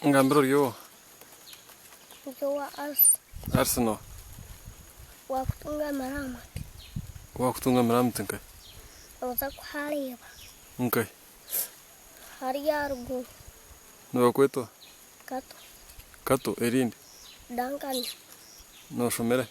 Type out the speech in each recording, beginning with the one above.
Ngambira ori owa? Ndi owa Arsenal. Arsenal. Waakutunga amaramati. Waakutunga amaramati nkahi? Nooza kuhareeba. Nkahi? Hare aha ruguru. Nibakweta owa? Kato. Kato, erindi? Duncan. Nooshomera hi?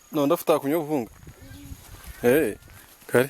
Noyenda kutaakunya obuhunga? Eeh kare.